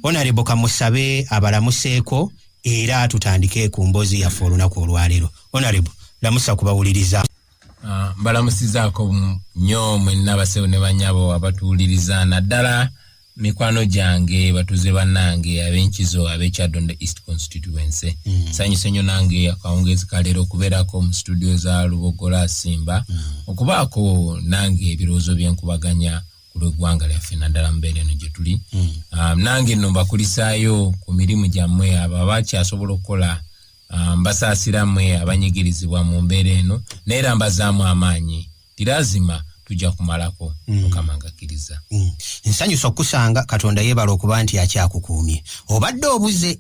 Honorable Kamusabe abalamuseeko era tutandike ku mbozi yaffe olunaku olwaleero Honorable lamusa kubawuliriza ah, mbalamusizaako nyo mwenna basewo ne banyabo abatuwuliriza naddala mikwano gyange batuze banange abenkizo abekyadonda east constituency mm. sanyuse nyo nange akawungezi kaleero okubeerako mu situdio za lubogola asimba mm. okubaako nange ebirowoozo byenkubaganya ku lweggwanga lyaffe naddala mubeera eno gye tuli mm. um, nange nno mbakulisaayo ku mirimu gyammwe abo abakyasobola okukola Ah, mbasaasira mwe abanyigirizibwa mu mbeera eno naye era mbazaamu amaanyi tirazima tujja kumalako mm. mukama ngakkiriza mm. nsanyusa okukusanga katonda yeebala okuba nti akyakukuumye obadde obuze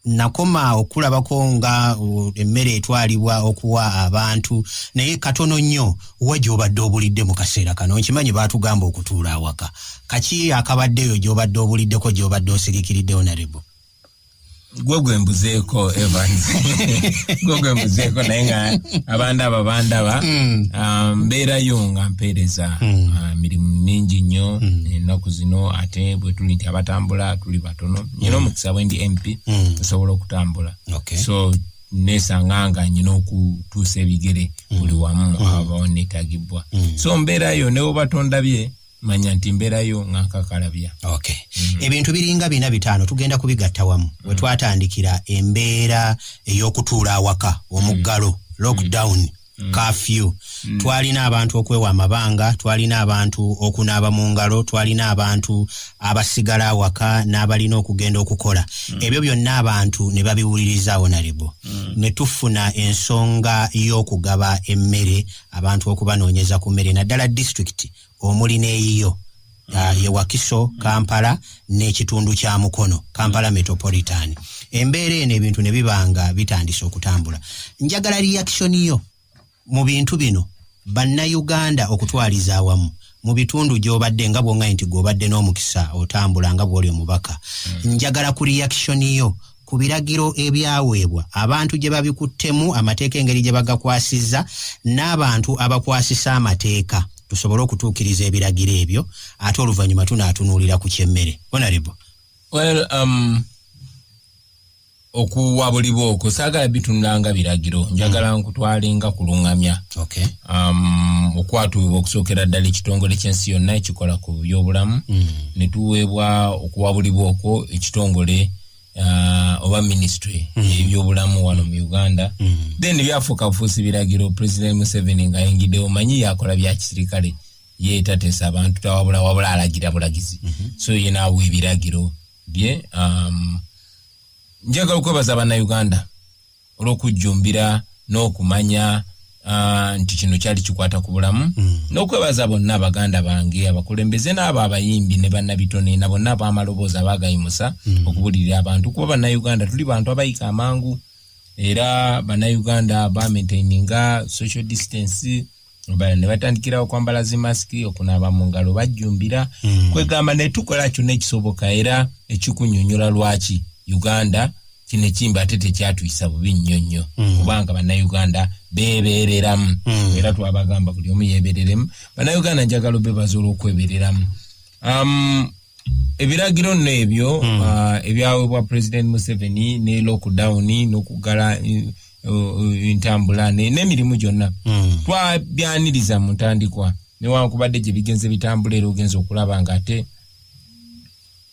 nakoma okulabako nga uh, emmere etwalibwa okuwa abantu naye katono nnyo wa gyobadde obulidde mu kaseera kano nkimanyi baatugamba okutuula awaka kaki akabaddeeyo gyobadde obuliddeko gyobadde osirikiridde onarebo gwe gwembuzeeko evans gwe gwembuzeeko naye nga abandaba bandaba hmm. um, mbeerayo nga mpeereza hmm. uh, mirimu mingi nnyo hmm. ennaku zino ate bwetuli nti abatambula tuli batono nyina omukisa bwendi mp osobola okutambula so nesanga nga nyina okutuusa ebigere buli wamu aba netagibbwa so mbeerayo newobatondabye manya nti mbeerayo nga nkakalabya okay. mm -hmm. ebintu biringa bina bitaano tugenda kubigatta wamu mm -hmm. we twatandikira embeera ey'okutuula awaka omuggalo mm -hmm. lockdown mm -hmm. Mm. kafyu mm. twalina abantu okwewa amabanga twalina abantu okunaaba mu ngalo twalina abantu abasigala awaka n'abalina okugenda okukola mm. ebyo byonna abantu ne babiwuliriza onalebo mm. ne tufuna ensonga y'okugaba emmere abantu okubanoonyeza ku mmere naddala disitulikiti omuli n'eyiyo ah, ye Wakiso, Kampala n'ekitundu kya Mukono, Kampala Metropolitan. Embeera eno ebintu ne biba nga bitandise okutambula. Njagala reaction yo mu bintu bino bannayuganda okutwaliza awamu mu bitundu gy'obadde nga bw'oŋŋaye nti gw'obadde n'omukisa otambula nga bw'oli omubaka. Njagala ku reaction yo ku biragiro ebyaweebwa abantu gye babikuttemu amateeka engeri gye bagakwasizza n'abantu abakwasisa amateeka tusobole okutuukiriza ebiragiro ebyo ate oluvannyuma tunaatunuulira ku kyemmere onarebo well, um, okuwa buli bwoko saagala bitunulanga biragiro njagala mm. nkutwalenga kuluŋŋamya okay. um, okwatuubwa okusookera ddala ekitongole ky'ensi yonna ekikola ku byobulamu mm. ne tuweebwa okuwa buli bwoko ekitongole uh, oba ministry mm. ebyobulamu wano mu uganda mm. then byafuuka bufuusi biragiro president museveni nga ayingidde omanyi yakola byakisirikale ye tatesa abantu tawabula wabula alagira bulagizi mm -hmm. so ye naawa ebiragiro bye um, njagala okwebaza banauganda olw'okujjumbira n'okumanya ah, nti kino kyali kikwata ku bulamu hmm. n'okwebaza bonna abaganda bange abakulembeze n'abo abayimbi ne bannabitone na bonna ab'amaloboozi abaagayimusa hmm. okubulirira abantu kuba bannayuganda tuli bantu abayika amangu era bannayuganda bamaintaininga social distance bala ne batandikira okwambala zi masiki okunaaba mu ngalo bajjumbira mm. kwegamba ne tukola kyonna ekisoboka era ekikunyonyola lwaki uganda kino ekimba ate tekyatuyisa bubi nnyo nnyo mm. kubanga bannayuganda beebeereramu mm. era twabagamba buli omu yeebereremu bannayuganda njagala obebaza olw'okwebereramu um, ebiragiro nno ebyo hmm. uh, ebyawebwa president museveni ne lockdown nokugala entambula uh, uh, nemirimu gyonna hmm. twabyaniriza mu ntandikwa newankubadde gye bigenze bitambula era ogenza okulaba nga ate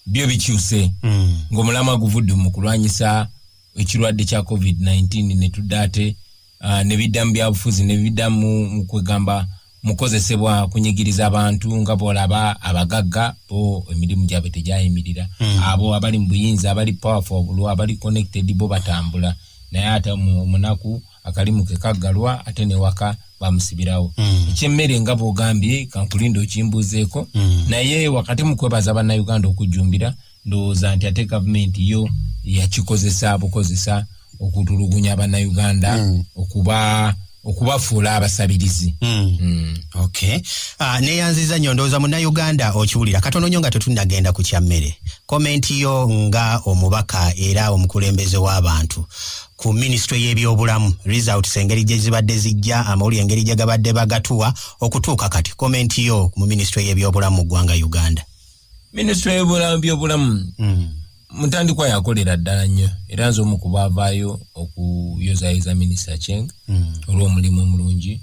byo bikyuse hmm. ngaomulamwa guvudde mu kulwanyisa ekirwadde kya covid-19 netudde ate uh, ne bidda mu byabufuzi ne bidda mu kwegamba mukozesebwa kunyigiriza abantu nga bwolaba abagagga bo emirimu gyabwe tegyayimirira mm. abo abali mu buyinza abali powerful obulwa abali connected bo batambula naye ate omunaku akalimu ke kaggalwa ate newaka bamusibirawo mm. ekyemmere nga bwogambye kankulinda okimbuuzeeko mm. naye wakati mu kwebaza bannayuganda okujjumbira ndowooza nti ate gavumenti yo yakikozesa bukozesa okutulugunya abanauganda mm. okuba okubafuula abasabirizi mm. mm. okay. uh, neyanziza nyo ndowooza munauganda okiwulira katono nyo nga tetunagenda ku kyammere komenti yo nga omubaka era omukulembeze w'abantu ku minisitule y'ebyobulamu results engeri gye zibadde zijja amawulire engeri gye gabadde bagatuwa okutuuka kati komenti yo mu minisitule y'ebyobulamu mu ggwanga uganda minisitule y'ebyobulamu hmm. mutandikwa yakolera ddala nnyo era nze omu kuba avaayo okuyozayoza minisita cheng hmm. olw'omulimu omulungi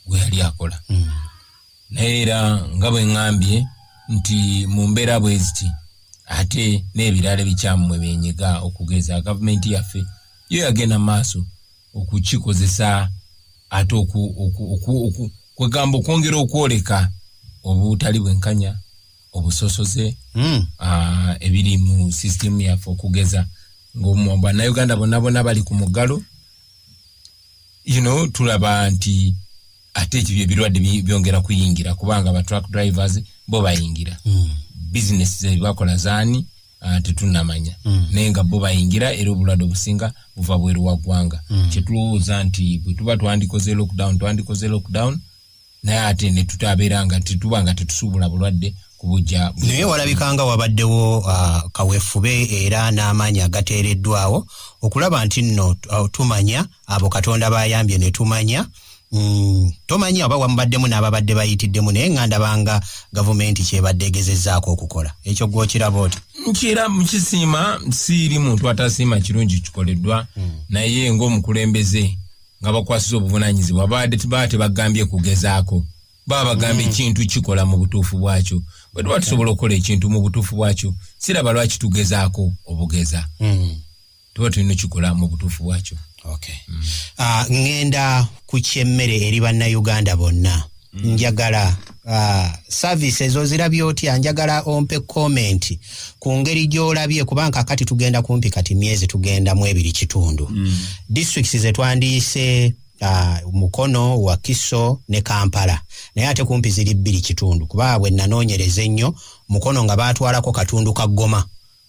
gwe yali akola hmm. naye era nga bwe ŋŋambye nti mu mbeera bwe ziti ate n'ebirala ebikyamu mwe byenyiga okugeza gavumenti yaffe yo yagenda mu maaso okukikozesa ate kwegamba okwongera okwoleka obutali bwenkanya obusosoze hmm. ebiri mu sisitemu yaffe okugeza ngabannauganda bonna bona bali ku muggalo you know tulaba nti ate ekibyo ebirwadde byongera kuyingira kubanga ba truck drivers bo bayingira mm. business zebakola zaani uh, tetunamanya mm. naye nga bo bayingira era obulwadde obusinga buva bweru wa ggwanga mm. kyetulowooza nti bwe tuba twandikoze lockdown twandikoze lockdown naye ate netutabeera nga tetuba nga tetusuubula bulwadde kubujja naye walabikanga wabaddewo uh, kawefube era n'amaanyi agateereddwawo okulaba nti nno uh, tumanya abo katonda bayambye netumanya mm, tomanya oba wamubaddemu n'ababadde bayitiddemu naye nga ndabanga gavumenti kyebadde egezezaako okukola ekyo gwokiraba oti nkira mukisiima siiri muntu atasiima kirungi kikoleddwa mm. naye ngaomukulembeze nga bakwasiza obuvunanyizibwa baade baa tebagambye kugezaako baba bagamba mm. ekintu kikola mu butuufu bwakyo bwe tuba tusobola okukola ekintu mu butuufu bwakyo siraba lwaki tugezaako obugeza mm. tuba tulina okikola mu butuufu bwakyo okay. mm. uh, ngenda ku kyemmere eri bannayuganda bonna mm. njagala Ah, service ezo zirabye otya njagala ompe comment ku ngeri gyolabye kuba kakati tugenda kumpi kati myezi tugenda mu ebiri kitundu mm. districts zetwandiyise Uh, mukono wakiso ne kampala naye ate kumpi ziri bbiri kitundu kuba bwe nanonyereza ennyo mukono nga batwalako katundu ka goma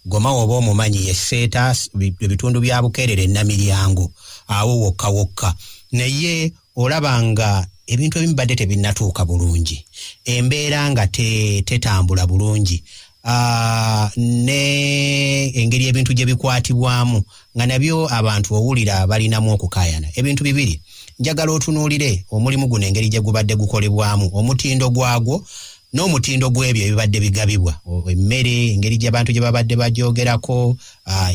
Goma woba omumanyi ye Seeta, ebitundu bya Bukeerere, Namiryango, awo wokka wokka. Naye olaba nga ebintu ebimu badde tebinnatuuka bulungi, embeera nga tetambula bulungi ah, ne engeri ebintu gye bikwatibwamu nga nabyo abantu owulira balinamu okukaayana. Ebintu bibiri njagala otunuulire omulimu guno engeri gye gubadde gukolebwamu, omutindo gwagwo n'omutindo gw'ebyo ebibadde bigabibwa emmere engeri gyabantu gye babadde bagyogerako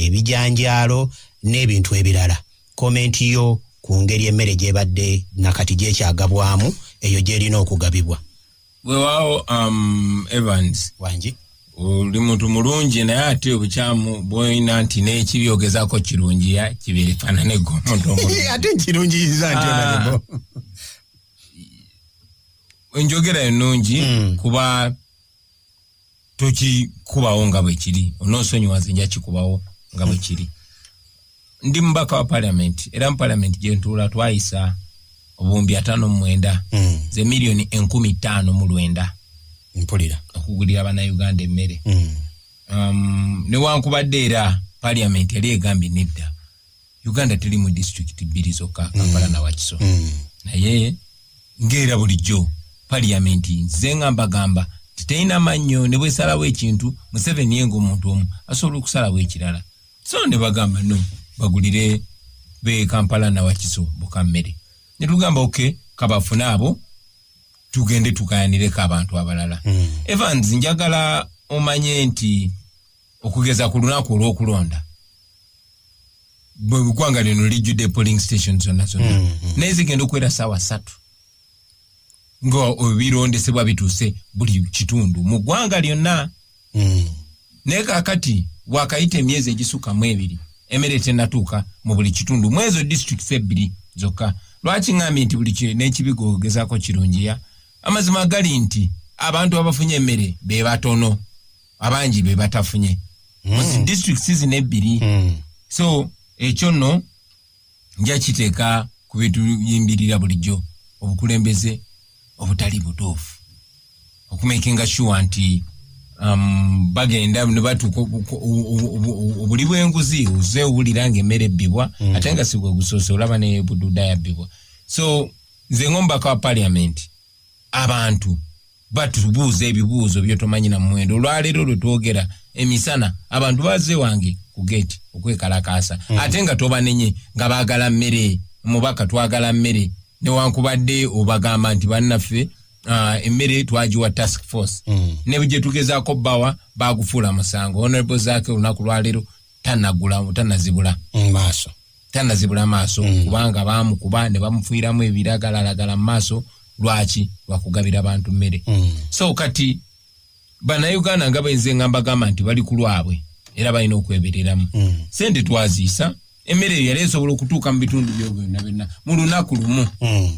ebijanjaalo n'ebintu ebirala komenti yo ku ngeri emmere gyebadde nakati gyekyagabwamu eyo gyerina okugabibwa wewaawo um, evans wangi oli muntu mulungi naye ate obukyamu bwoyina nti nekibyogezako kirungiya kibifananegwomuntu ate nkirungiyiza nti ah. enjogera ennungi hmm. kuba tokikubawo nga bwe kiri onoosonyiwa nze nja kikubawo nga bwe kiri ndi mubaka wa paliamenti era mu paliamenti gye ntuula twayisa obuwumbi ataano mu mwenda hmm. ze miliyoni enkumi ttaano mu lwenda mpulira okugulira bannayuganda emmere hmm. um, newankubadde era paliamenti yali egambye nedda uganda tuli mu disitulikiti bbiri zokka mm. kampala na wakiso mm. naye ngaera bulijjo paliyamenti nze nga mbagamba titerina mannyo ne bwesalawo ekintu museveni yenga omuntu omu asobola okusalawo ekirala so ne bagamba no bagulire be kampala na wakiso boka mmere ne tugamba oke kabafune abo tugende tugayanireko abantu abalala mm. evans njagala omanye nti okugeza ku lunaku olw'okulonda bwegwanga lino lijjudde polling station zonna zonna mm, mm. naye zigenda okuwera saawa satu nga ebirondesebwa bituuse buli kitundu mu ggwanga lyonna mm. naye kakati wakayita emyezi egisukka mu ebiri emere tenatuuka mu buli kitundu mwezo districts ebbiri zokka lwaki ŋambi nti buli n'ekibiga ogezaako kirungiya amazima gali nti abantu abafunye emmere be batono abangi be batafunye muzi mm. district season ebbiri mm. so ekyo nno nja kiteeka ku bituyimbirira bulijjo obukulembeze obutali butuufu okumakinga sure nti um, bagenda nebatuuka obuli bwenguzi oze owulira nga emmere ebbibwa mm. ate nga sigwe gusoose olaba ne bududa yabbibwa so nze ng'omubaka wa parliament abantu batubuuza ebibuuzo byotomanyi na muwendo olwaleero lwe twogera emisana abantu baze wange ku geeti okwekalakaasa mm. ate nga tobanenye nga baagala mmere mubaka twagala mmere newankubadde obagamba nti bannaffe uh, emmere uh, twagiwa task force mm. ne gye tugezaako bbawa baagufuula musango honorable zaake olunaku lwaleero tanagula tanazibula mu maaso tanazibula maaso mm. kubanga baamukuba ne bamufuiramu ebiragalalagala mu maaso lwaki lwakugabira bantu mmere mm. so kati banauganda nga benze nga mbagamba nti bali ku lwabwe era balina okwebereramu mm. sente twaziisa emmere eyo yali esobola okutuuka mu bitundu byo byonna byonna mu lunaku lumu mm.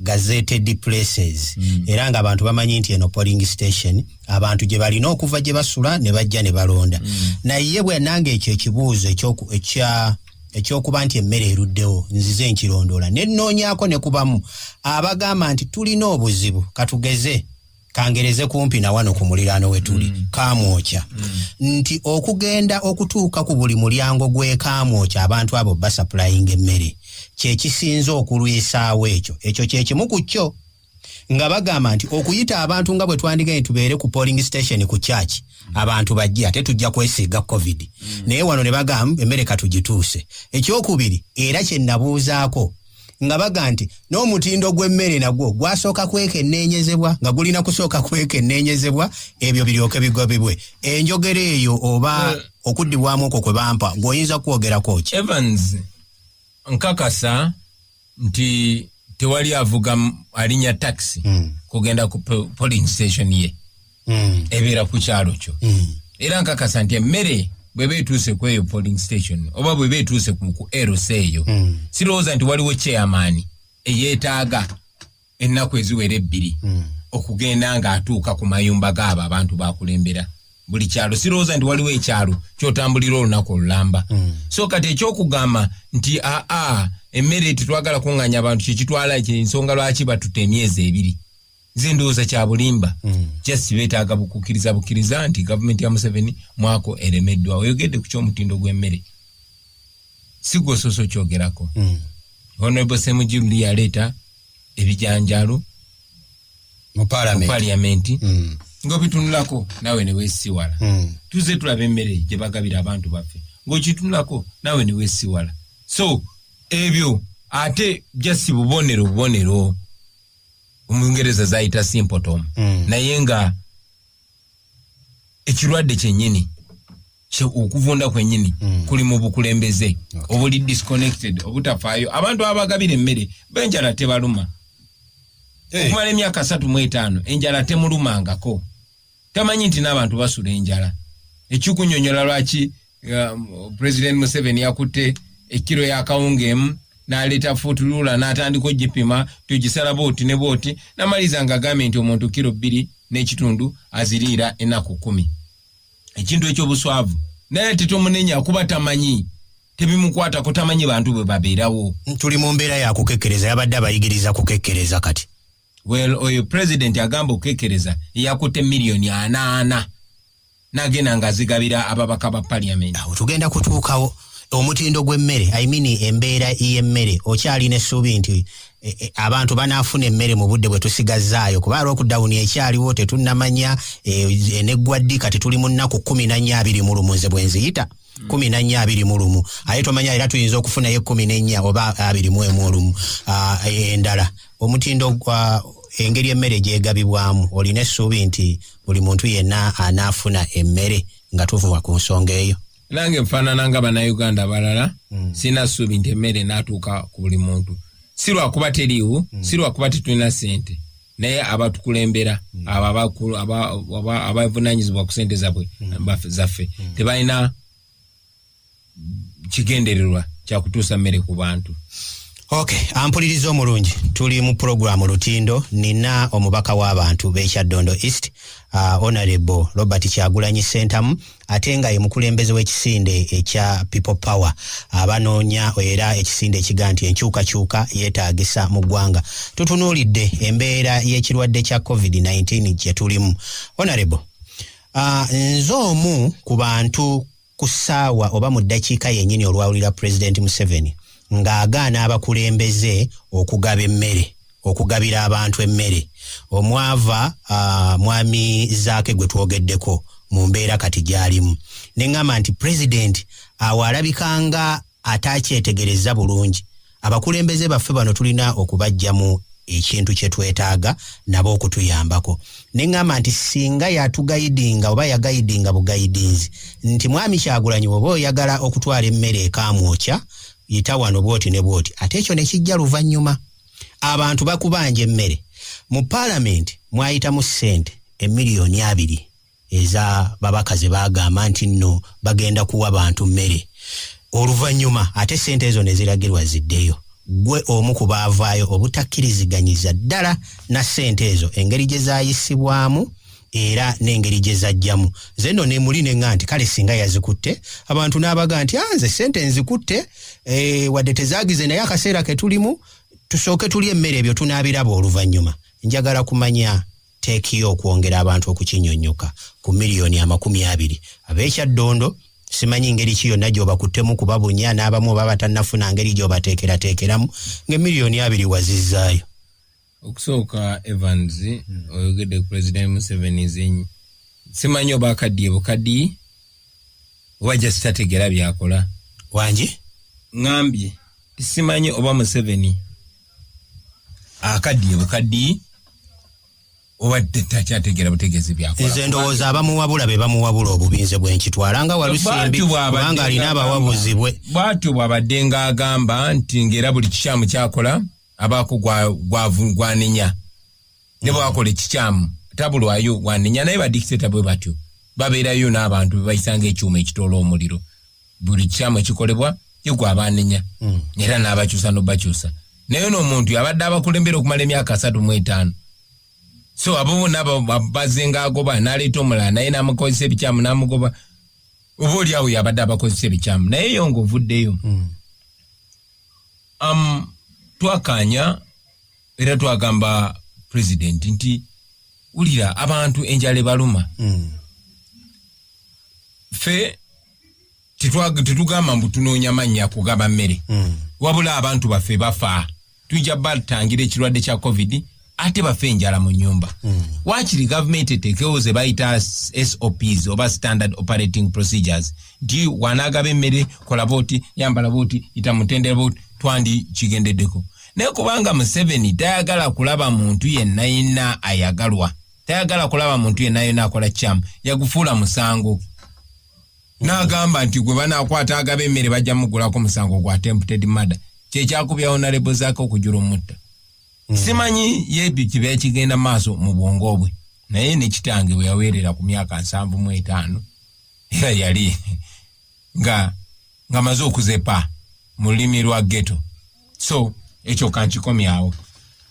gazetted places mm. era nga abantu bamanyi nti eno polling station abantu gye balina okuva gye basula ne bajja ne balonda mm. naye bwe nange ekyo ekibuuzo ekya ekyokuba nti emmere eruddewo nzize nkirondoola ne nnoonyako ne kubamu abagamba nti tulina obuzibu katugeze kangereze kumpi na wano ku muliraano we tuli mm. kaamwokya mm. nti okugenda okutuuka ku buli mulyango gw'ekaamwokya abantu abo basapulayinga emmere kye kisinze okulwisaawo ekyo ekyo kye kimu ku kyo nga bagamba nti okuyita abantu nga bwe twandigaye tubeere ku polling station ku church abantu bajje ate tujja kwesiiga covid mm. naye wano ne bagamba emmere katugituuse ekyokubiri era kye nabuuzaako nga baga nti n'omutindo gw'emmere nagwo gwasooka kwekenneenyezebwa nga gulina kusooka kwekenneenyezebwa ebyo biryoke bigobebwe enjogera eyo oba eh. okuddibwamu okwo kwe bampa ng'oyinza kwogerako ki evans nkakasa nti tewali avuga alinya taxi hmm. kugenda ku polling station ye mm. ebeera ku kyalo kyo mm. era nkakasa nti emmere bweba etuuse ku eyo polling station oba bweba etuuse ku eros eyo mm. sirowooza nti waliwo chairman eyeetaaga ennaku eziwera ebbiri mm. okugenda ng'atuuka ku mayumba gaabo abantu bakulembera buli kyalo sirowooza nti waliwo ekyalo kyotambulira olunaku olulamba mm. so kati ekyokugamba nti aa emmere tetwagala kunganya abantu kyekitwala ensonga lwaki batuta emyezi ebiri nze ndowooza kyabulimba hmm. just betaaga bukukiriza bukiriza nti gavumenti ya museveni mwako eremeddwa oyogedde ku kyomutindo gw'emmere sigwosoose okyogerako hmm. honorable semujiruli yaleeta ebijanjalo mu paliamenti hmm. ngaobitunulako nawe newesiwala tuze tulaba emmere gye bagabira abantu baffe ngaokitunulako nawe newesiwala so ebyo ate jasi bubonero bubonero omungereza zayita simpotom mm. naye nga ekirwadde kyenyini okuvunda kwenyini mm. kuli mu bukulembeze okay. obuli disconnected obutafaayo abantu abagabira emmere benjala tebaluma hey. okumala emyaka satu mu etaano enjala temulumangako tamanyi nti n'abantu basula enjala ekikunyonyola lwaki um, president museveni yakutte ekkiro yakawunga emu naleeta futulula natandika ogipima tugisala booti ne booti namaliza nga agambye nti omuntu kiro bbiri n'ekitundu aziriira enaku kumi ekintu ekyobuswavu naye tetomunenya kuba tamanyi tebimukwata kutamanyi bantu bwe babeerawo tuli mu mbeera yakukekkereza yabadde abayigiriza kukekkereza kati well oyo president agamba okukekereza eyakutte miliyoni anaana nagenda nga azigabira ababaka ba parliament awo tugenda kutuukawo omutindo gw'emmere i mean embeera y'emmere okyalina essuubi nti e, e, abantu banaafuna emmere mu budde bwe tusigazzaayo kuba lwokudawuni ekyaliwo tetunnamanya e, eneggwa ddi kati tuli mu nnaku kumi na nnya abiri mu lumunze bwe nziyita kumi na nnya abiri mu lumu aye tomanya era tuyinza okufunayo ekumi n'ennya oba abiri mu emu olumu ah, endala omutindo gwa engeri emmere gyegabibwamu olina essuubi nti buli muntu yenna anaafuna emmere nga tuvuba ku nsonga eyo nange nfaanana nga bannayuganda abalala hmm. sirina ssuubi nti emmere naatuuka ku buli muntu si lwakuba teriiwo hmm. si lwakuba tetulina ssente naye abatukulembera abavunanyizibwa ku sente zabwe zaffe tebalina kigendererwa kyakutuusa mmere ku bantu ok ampuliriza omulungi tuli mu pulogulaamu lutindo nina omubaka w'abantu bekyaddondo east uh, honorable robert kyagulanyi sentamu ate nga ye mukulembeze w'ekisinde ekya people power abanoonya era ekisinde ekiga nti enkyukakyuka yeetaagisa mu ggwanga tutunuulidde embeera y'ekirwadde kya covid-19 gye tulimu honorable uh, nze omu ku bantu ku ssaawa oba mu ddakiika yennyini olwawulira pulezidenti museveni ng'agaana abakulembeze okugaba emmere okugabira abantu emmere omwava uh, mwami zaake gwe twogeddeko mu mbeera kati gy'alimu ne ŋŋamba nti pulezidenti awo alabika nga ataakyetegereza bulungi abakulembeze baffe bano tulina okubajjamu ekintu kye twetaaga nabo okutuyambako ne ŋŋamba nti singa yatugayidinga oba yagayidinga bugayidinzi nti mwami kyagulanyi oba oyagala okutwala emmere ekamwokya yita wano bwoti ne bwoti ate ekyo ne kijja luvannyuma abantu bakubanja emmere mu paalamenti mwayitamu ssente emiliyoni abiri eza babaka ze bagamba nti nno bagenda kuwa bantu mmere oluvannyuma ate ssente ezo ne ziragirwa ziddeyo gwe omu ku baavaayo obutakiriziganyiza ddala na ssente ezo engeri gye zaayisibwamu era n'engeri gye zajjamu nze nno ne muli ne ŋa nti kale singa yazikutte abantu n'abaga nti ah, nze ssente nzikutte eh, wadde tezaagize naye akaseera ke tulimu tusooke tuli emmere ebyo tunaabiraba oluvannyuma njagala kumanya teekiyo okwongera abantu okukinyonnyoka ku miliyoni amakumi abiri ab'ekyaddondo simanyi ngeri ki yonna gyobakuttemu kuba bunya n'abamu oba batannafuna ngeri gyobateekerateekeramu ng'emiliyoni abiri wazizaayo okusooka evans hmm. oyogedde ku president museveni zenyi simanyi oba akaddiye bukaddi oba jasitategera byakola wangi ŋambye simanyi oba museveni akaddiye bukaddi obadekyategera butegezi byakolanze ndowooza abamuwabula be bamuwabula obubinze bwenkitwala nga walusimbi kubanga alina abawabuzi bwe bwatyo bwabadde nga agamba nti ngaera buli kikyamu kyakola abaako gwanenya ne bwakola ekikyamu tabulwayo wanenya naye badikiteta bwe batyo babeerayo n'abantu bebayisa ngaekyuma ekitoola omuliro buli kikyamu ekikolebwa yegwe abanenya hmm. era n'abakyusa nobakyusa naye noomuntu abadde abakulembera okumala emyaka asatu mu etaano so abo bona bazenga agoba naleeta omulala naye namukozesa ebikyamu namugoba oba oliawo yabadde abakozesa ebikyamu naye yo nga ovuddeyo mm. am twakaanya era twagamba president nti wulira abantu enjala ebaluma hmm. fe tetugamba mbu tunoonya mannya kugaba mmere hmm. wabula abantu baffe bafa tujja batangira ekirwadde kya covid ate bafe enjala mu nyumba mm. wakiri gavumenti etekewo ze bayita sops oba standard operating procedures nti wanagaba emmere kola booti yambala booti yita mutendera booti twandi kigendeddeko naye kubanga museveni tayagala kulaba muntu yenna yenna ayagalwa tayagala kulaba muntu yenna yenna akola kyamu yagufuula musango n'agamba nti gwe banakwata agaba emmere bajja mugulako musango gwa tempted mada kyekyakubya onalebo zaake okujula omutta mm. simanyi ye kiba ekigenda maaso mu bwongo bwe naye ne kitange bwe yaweerera ku myaka nsanvu mu etaano era yali nga nga maze okuzepa mu lulimi lwa geto so ekyo kankikomyawo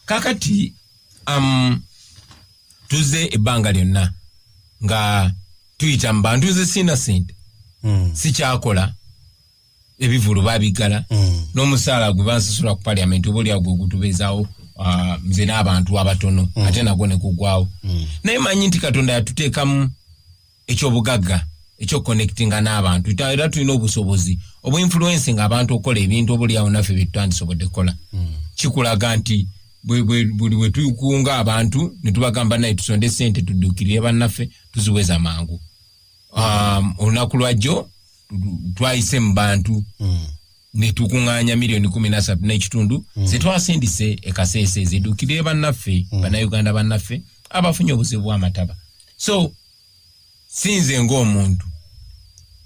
kakati um, tuze ebbanga lyonna nga tuyita mu bantu ze sina sente mm. sikyakola ebivulu babigala mm. nomusaala gwe bansasula ku parliament oba olyawo gwe gutubeezawo uh, nze n'abantu abatono mm. ate nagwo nekugwawo mm. naye manyi nti katonda yatuteekamu ekyobugagga ekyoconnectinga n'abantu era tulina obusobozi obuinfluensi nga abantu okukola ebintu oba olyawo naffe byetutandisobodde kukola mm. kikulaga nti buli wetukunga abantu netubagamba naye tusonde sente tuddukirire bannaffe tuziweza mangu um, olunaku lwajjo twayise mu bantu mm. netukuŋŋaanya miliyoni kumi nasatu n'ekitundu mm. zetwasindise ekaseese zidukire bannaffe mm. bannayuganda bannaffe abafunye obuzibu bw'amataba so sinze ng'omuntu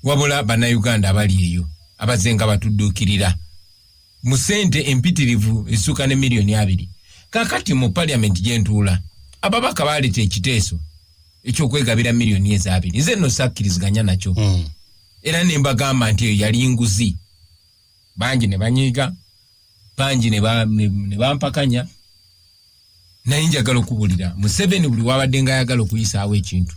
wabula bannayuganda abali eyo abaze nga batudduukirira mu sente empitirivu esuuka ne miliyoni abiri kakati mu paliamenti gyentuula ababaka baaleta ekiteeso ekyokwegabira miliyoni ezo abiri nze no sakkiriziganya nakyo hmm. era ne mbagamba nti eyo yali nguzi bangi ne banyiiga bangi ne bampakanya naye njagala okubulira museveni buli wabadde nga ayagala okuyisaawo ekintu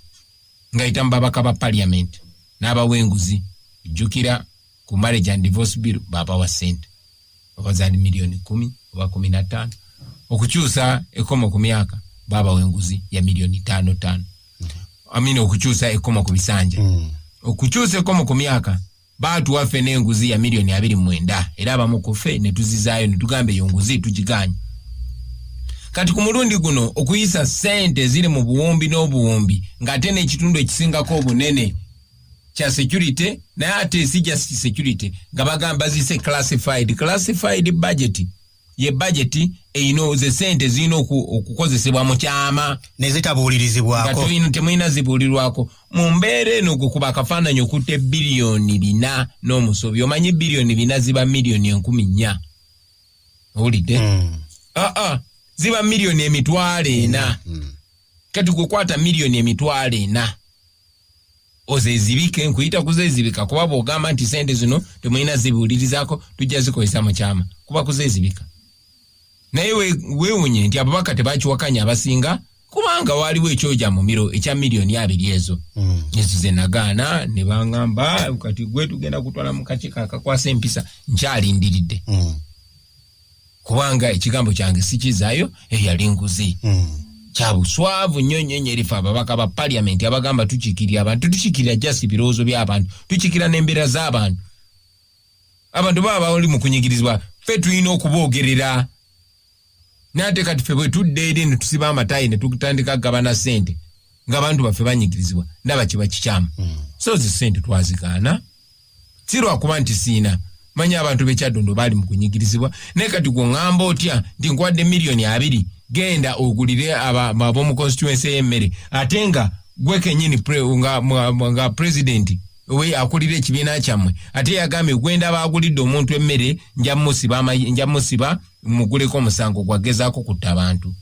ngayita mu babaka ba paliament n'abawa enguzi jjukira ku marriage and divorce bill babawa sente oba zali miliyoni kumi oba kumi na ttaano okukyusa ekkomo ku myaka babawa enguzi ya miliyoni ttaano ttaano amina okukyusa ekkomo ku bisanja mm. okukyusa ekkomo ku myaka baatuwa ffe n'enguzi ya miliyoni abiri mwenda era abamu ku ffe ne tuzizaayo ne tugamba eyo nguzi tugiganya kati ku mulundi guno okuyisa sente ziri mu buwumbi n'obuwumbi ng'ate n'ekitundu ekisingako obunene kya security naye ate si just security nga bagamba zise classified classified budget ye budget eino ze sente zino okukozesebwa mu kyama nezitabuulirizibwako temulina zibuulirwako mu mbeera eno okukuba akafaananyi okutte biliyoni bina n'omusobi omanyi biliyoni bina ziba miliyoni enkumi nnya owulidde mm. aa ah, ah, ziba miliyoni emitwalo ena mm. kati kukwata miliyoni emitwalo ena ozezibike nkuyita kuzezibika kuba bwogamba nti sente zino temulina zibuulirizako tujja zikozesa mukyama kuba kuzezibika naye wewunye nti ababaka tebakiwakanya abasinga kubanga waaliwo ekyoja mumiro ekya miliyoni abiri ezo hmm. ezo zenagaana ne baŋamba kati gwe tugenda kutwala mu kakiiko akakwasa empisa nkyalindiridde hmm. kubanga ekigambo kyange sikizayo eyali nguzi hmm. kyabuswavu nnyo nnyo nyo erifa ababaka ba paliamenti abagamba tukikirira abantu tukikirira just ebirowoozo by'abantu tukikira n'embeera z'abantu abantu baba bali mu kunyigirizibwa ffe tulina okuboogerera naate kati ffe bwe tudda eri ne tusiba amatayi ne tutandika kugabana sente ng'abantu baffe banyigirizibwa ndaba kiba kikyamu hmm. so zi sente twazigaana si lwakuba nti siina manya abantu bekyaddondo baali mu kunyigirizibwa naye kati gwe ŋŋamba otya nti nkuwadde miliyoni abiri genda ogulire ab'omu constituensi ey'emmere ate nga gwe kenyini nga pulezidenti we akulira ekibiina kyammwe ate yagambye gwenda baagulidde omuntu emmere nja musiba muguleko omusango gwagezaako kutta abantu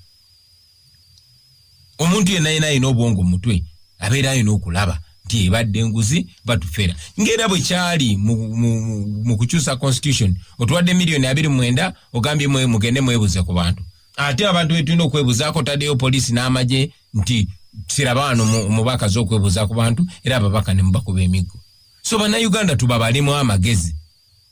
omuntu yenna yena alina obwongo mu mutwe abeera alina okulaba nti ebadde enguzi batufera ngaera bwe kyali mu kukyusa constitution otuwadde miliyoni abiri mwenda ogambye mwe mugende mwebuze ku bantu ate abantu betulina okwebuzaako taddeyo poliisi n'amagye nti siraba wano omubaka za okwebuza ku bantu era ababaka ne mubakuba emiggo so bannayuganda tubabalemu amagezi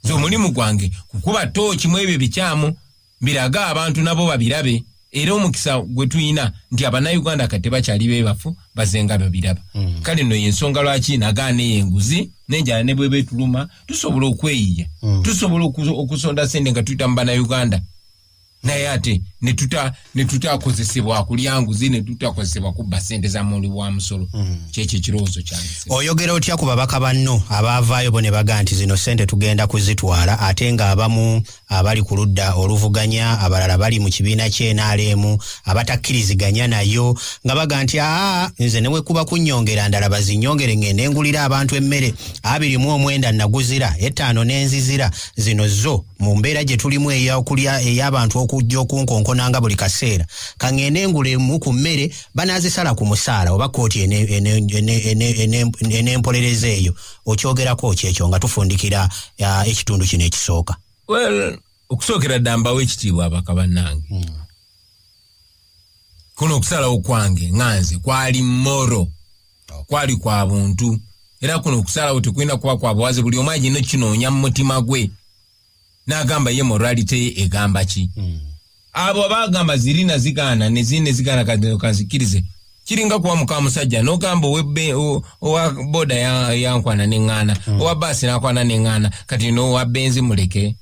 nze omulimu gwange kukuba tooki mu ebyo bikyamu birage abantu nabo babirabe era omukisa gwe tulina nti abanauganda kati tebakyali bebafu bazenga babiraba mm. kale no yensonga lwaki nagaana eyo enguzi nenjala ne bweba etuluma tusobola okweyiya mm. tusobola okusonda sente nga tuyita mu banauganda naye ate netutakozesebwa kulya nguzi netutakozesebwa kubba sente za muli wa musolo mm. kyekyo ekirowoozo kyange oyogera otya ku babaka banno abaavaayo bo ne baga nti zino sente tugenda kuzitwala ate ng'abamu abali ku ludda oluvuganya abalala bali mu kibiina kyenaleemu abatakkiriziganya nayo nga baga nti aa nze newekuba kunnyongera ndala bazinyongere ngende ngulira abantu emmere abiri mu omwenda naguzira ettaano n'enzizira zino zo mu mbeera gye tulimu eyokulya ey'abantu okujja okunkonkonanga buli kaseera kangende ngulemu ku mmere banaazisala ku musaala oba kkooti enempolereza eyo okyogerako ki ekyo nga tufundikira uh, ekitundu kino ekisooka well okusookera dda mbawo ekitiibwa abaka bannange hmm. kuno okusalawo kwange nga nze kwali moro kwali kwa buntu era kuno okusalawo tekulina kuba kwa buwaze buli omu agenda okinoonya mu mutima gwe nagamba ye morality ye egamba ki mm. abo abagamba zirina zigaana nezirina zigaana kanzikirize kiringa kuwa muka musajja nogamba owa boda yankwana ya neŋŋaana mm. owa baasi nakwana neŋŋaana kati nowa benzi muleke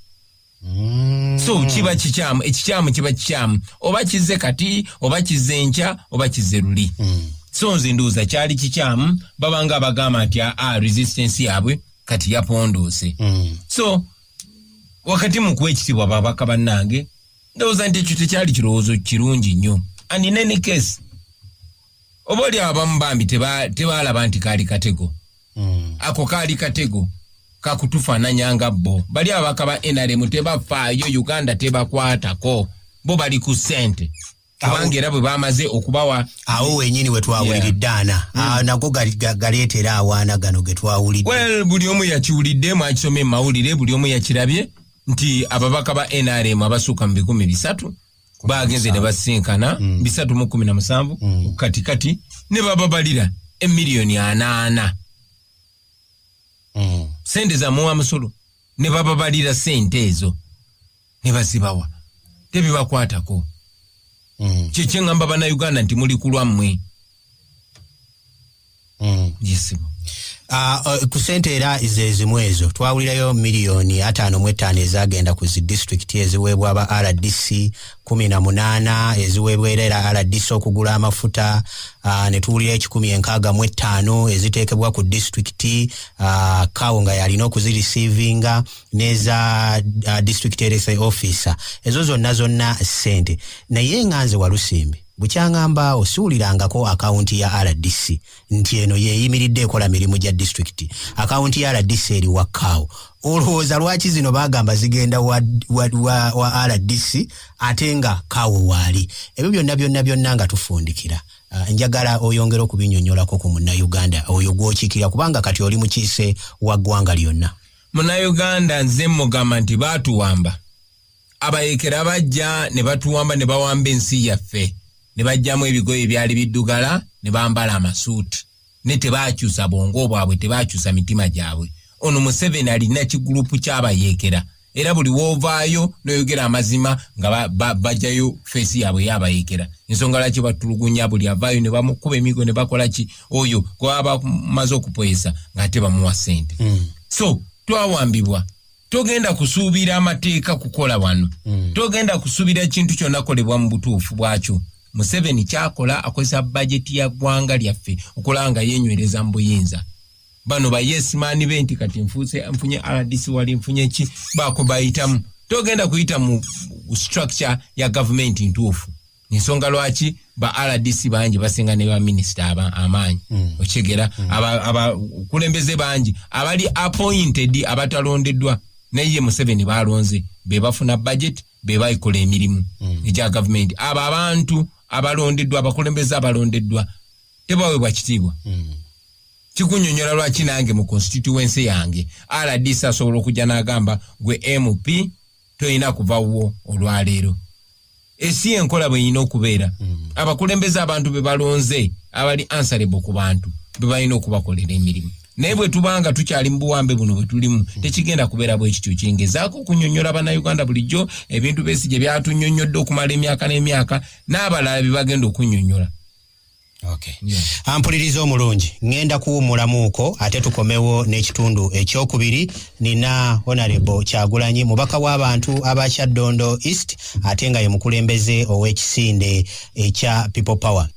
mm. so kiba kikyamu ekikyamu kiba kikyamu oba kizze kati oba kizze enkya oba kizze luli mm. so nze nduuza kyali kikyamu babanga abagamba nti aa ah, ah, resistance yabwe kati yapondoose mm. so wakati mu kuwa ekitiibwa babaka bannange ndowooza nti ekyo tekyali kirowoozo kirungi nnyo and in any case oba oli abamu bambi tebaalaba nti kaali katego mm. ako kaali katego kakutufaananya nga bo bali abaka ba nrm tebafaayo uganda tebakwatako bo bali ku ssente kubanga era bwe bamaze okubawa awo wenyini wetwawuliridde ana hmm. ah, nago galeetera awaana gano getwawulidde well buli omu yakiwulidde mwakisoma emawulire buli omu yakirabye nti ababaka ba nrm abasuuka mu bikumi bisatu bagenze ne basinkana hmm. bisatu mu kumi na musanvu hmm. katikati ne bababalira emiliyoni anaana sente zamuwa musolo ne bababalira sente ezo ne bazibawa tebibakwatako mm. kyekyeŋamba banauganda nti muli kulwammwe mm. yesibo Ah, eh, ku sente era zezimu ezo twawulirayo miliyoni ataano mu ettaano ezagenda ku zi disitulikiti eziweebwa aba rdc kumi na munaana eziweebwa era era rdc okugula amafuta ah, ne tuwulira ekikumi enkaaga mu ettaano eziteekebwa ku disitulikiti ah, kawo nga yalina okuzirisiivinga neza uh, district rsa officer ezo zonna zonna sente naye nga nze walusimbi bukyangamba osiwulirangako akawunti ya rdc nti eno yeyimiridde ekola mirimu gya disitulikiti akawunti ya rdc eri wakkaawo olowooza lwaki zino bagamba zigenda wa, wa, wa, wa rdc ate nga kaawo waali ebyo byonna byonna byonna nga tufundikira uh, njagala oyongere okubinyonyolako ku munnauganda oyo gwokiikirira kubanga kati oli mukiise wa ggwanga lyonna munauganda nze mugamba nti batuwamba abayekera bajja ne batuwamba ne bawamba ensi yaffe ne bajjamu ebigoye ebyali biddugala ne bambala amasuuti ne tebakyusa bwongo bwabwe tebakyusa mitima gyabwe ono museveni alina kigulupu kyabayekera era buli wovaayo noyogera amazima nga bajayo feesi yabwe yabayekera ensonga lwaki batulugunya buli avaayo ne bamukuba emigo ne bakola ki oyo gwaba maze okupoyesa ngate bamuwa sente mm. so twawambibwa togenda kusuubira amateeka kukola wano mm. togenda kusuubira ekintu kyonna kolebwa mu butuufu bwakyo museveni kyakola akozesa bajeti ya ggwanga lyaffe okulaba nga yenywereza mu buyinza bano bayesimaani be nti kati nfuuse nfunye rdc wali nfunye ki baako bayitamu togenda kuyita mu structure ya gavumenti ntuufu ensonga lwaki ba rdc bangi basinga ne baminisita amaanyi mm. okitegera mm. abakulembeze bangi abali appointed abatalondeddwa naye ye museveni balonze be bafuna budget be baikola emirimu mm. egya gavumenti abo abantu abalondeddwa abakulembeze abalondeddwa tebawebwa kitiibwa mm. kikunyonyola lwaki nange mu constituency yange rdc asobola okujja n'agamba gwe mp tolina kuva wuwo olwaleero esi enkola bweyina okubeera hmm. abakulembeze abantu bebalonze abali ansarebo ku bantu bebalina okubakolera emirimu naye bwetubanga tukyali mubuwambe buno bwetulimu hmm. tekigenda kubeera bwekityo kyengezaako okunyonyola banauganda bulijjo ebintu besi gye byatunyonyodde okumala emyaka n'emyaka n'abalala bebagenda okunyonyola Okay. Yeah. Ampuliriza omulungi ngenda kuwumulamuuko ate tukomewo n'ekitundu ekyokubiri nina honorable kyagulanyi mubaka w'abantu abakya dondo east ate nga ye mukulembeze ow'ekisinde ekya people power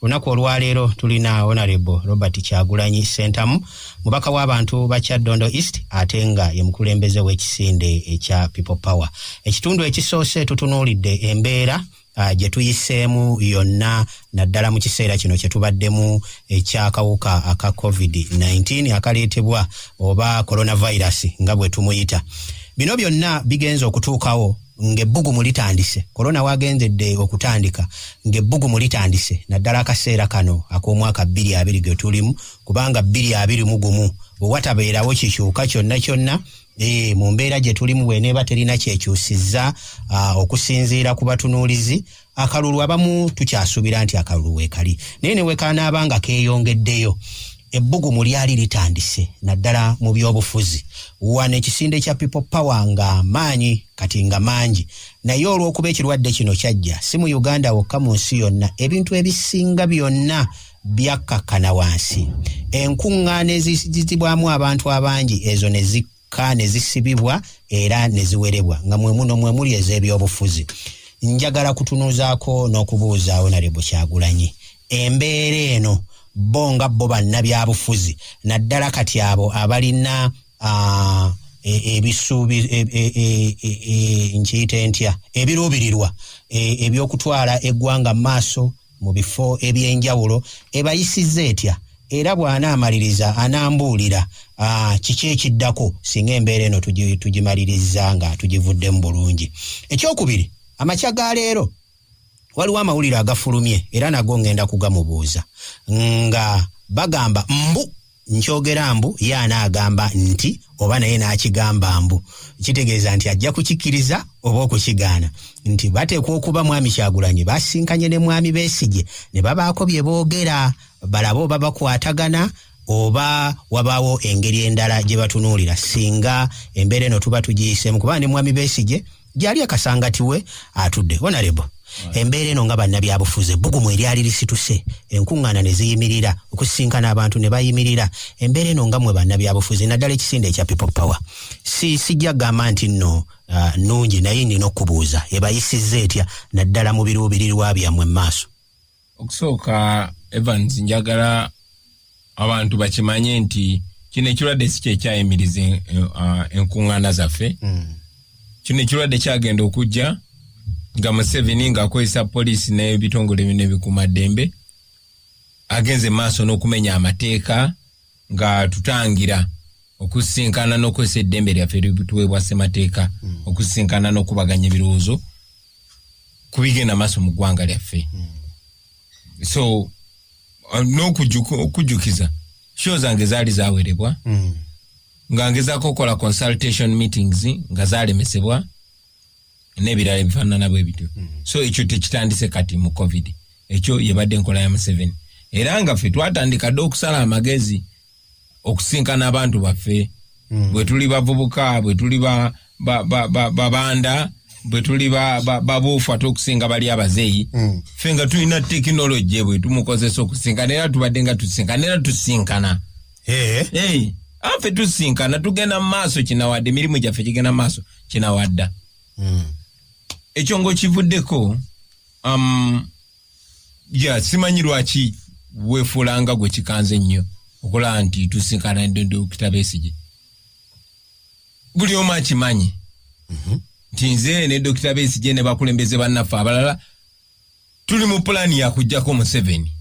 olunaku olwaleero tulina honorable robert kyagulanyi sentamu mubaka w'abantu bakya dondo east ate nga ye mukulembeze w'ekisinde ekya people power ekitundu ekisoose tutunuulidde embeera uh, gye tuyiseemu yonna naddala mu kiseera kino kye tubaddemu ekyakawuka aka covid-19 akaleetebwa oba coronavirus nga bwe tumuyita bino byonna bigenze okutuukawo ng'ebbugumu litandise korona wagendedde okutandika ng'ebbugumu litandise naddala akaseera kano ak'omwaka bbiri abiri ge tulimu kubanga bbiri abiri mu gumu bwe watabeerawo kikyuka kyonna kyonna Ee, eh, mu mbeera gye tulimu bweneeba terina kyekyusizza ah, okusinziira ku batunuulizi akalulu abamu tukyasuubira nti akalulu weekali naye ne wekanaaba nga keeyongeddeyo ebbugumu lyali litandise naddala mu byobufuzi wano ekisinde kya people power nga maanyi kati nga mangi naye olw'okuba ekirwadde kino kyajja si mu uganda wokka mu nsi yonna ebintu ebisinga byonna byakkakkana wansi enkuŋŋaana eziyitibwamu abantu abangi ezo ne zikka ne zisibibwa era ne ziwerebwa nga mwe muno mwe muli ez'ebyobufuzi njagala kutunuuzaako n'okubuuza onalebo kyagulanyi embeera eno bo nga bo bannabyabufuzi naddala kati abo abalina uh, E, ebisuubi e, e, nkiyite ntya ebiruubirirwa ebyokutwala eggwanga mu maaso mu bifo eby'enjawulo ebayisizza etya era bw'anaamaliriza anaambuulira ah, kiki ekiddako singa embeera eno tugimaliriza nga tugivuddemu bulungi ekyokubiri amakya ga leero waliwo amawulire agafulumye era nago ngenda kugamubuuza nga bagamba mbu nkyogera mbu ye anaagamba nti oba naye n'akigamba mbu kitegeeza nti ajja kukikkiriza oba okukigaana nti bateekwa okuba mwami kyagulanyi basinkanye ne mwami besigye ne babaako bye boogera balaba oba bakwatagana oba wabaawo engeri endala gye batunuulira singa embeera eno tuba tugiyisemu kubanga ne mwami besigye gyali akasangati we atudde onalebo embeera eno nga bannabyabufuzi ebbugumu eryali lisituse enkuŋŋaana ne ziyimirira okusisinkana abantu ne bayimirira embeera eno nga mwe bannabyabufuzi naddala ekisinde ekya people power si sijja kugamba nti nno uh, nnungi naye nnina okubuuza ebayisizza etya naddala mu biruubirirwa byammwe mu maaso okusooka evans njagala abantu bakimanye nti kino ekirwadde si kyekyayimiriza eh, ah, enkuŋŋaana zaffe hmm. kino ekirwadde kyagenda okujja nga museveni ng'akozesa poliisi n'ebitongole bino ebikuuma ddembe agenze maaso n'okumenya amateeka nga tutangira okusisinkana n'okukozesa eddembe lyaffe erituweebwa ssemateeka hmm. okusisinkana n'okubaganya ebirowoozo ku bigenda maaso mu ggwanga lyaffe hmm. so uh, n'okujjukiza sho zange zaali zawerebwa hmm. nga ngezaako okukola consultation meetings nga zalemesebwa n'ebirala ebifaanana bwe bityo hmm. so ekyo tekitandise kati mu covid ekyo yebadde enkola ya museveni era nga ffe twatandika dde okusala amagezi okusinkana abantu baffe hmm. bwe tuli bavubuka bwe tuli babanda bwe tuli babuufu ate okusinga bali abazeeyi hmm. ffe nga tulina tekinologi bwe tumukozesa okusinkana era tubadde nga tusinkana era tusinkana anfe tusinkana tugenda mu maaso kinawadde emirimu gyaffe gigenda mu maaso kinawadda mm. ekyo ngaokivuddeko um, ya simanyi lwaki wefuulanga gwe kikanze ennyo okulaba nti tusinkana dokita besige buli omu akimanyi mhm. nti nze ne dokita besige ne bakulembeze bannaffe abalala tuli mu pulaani yakujjako museveni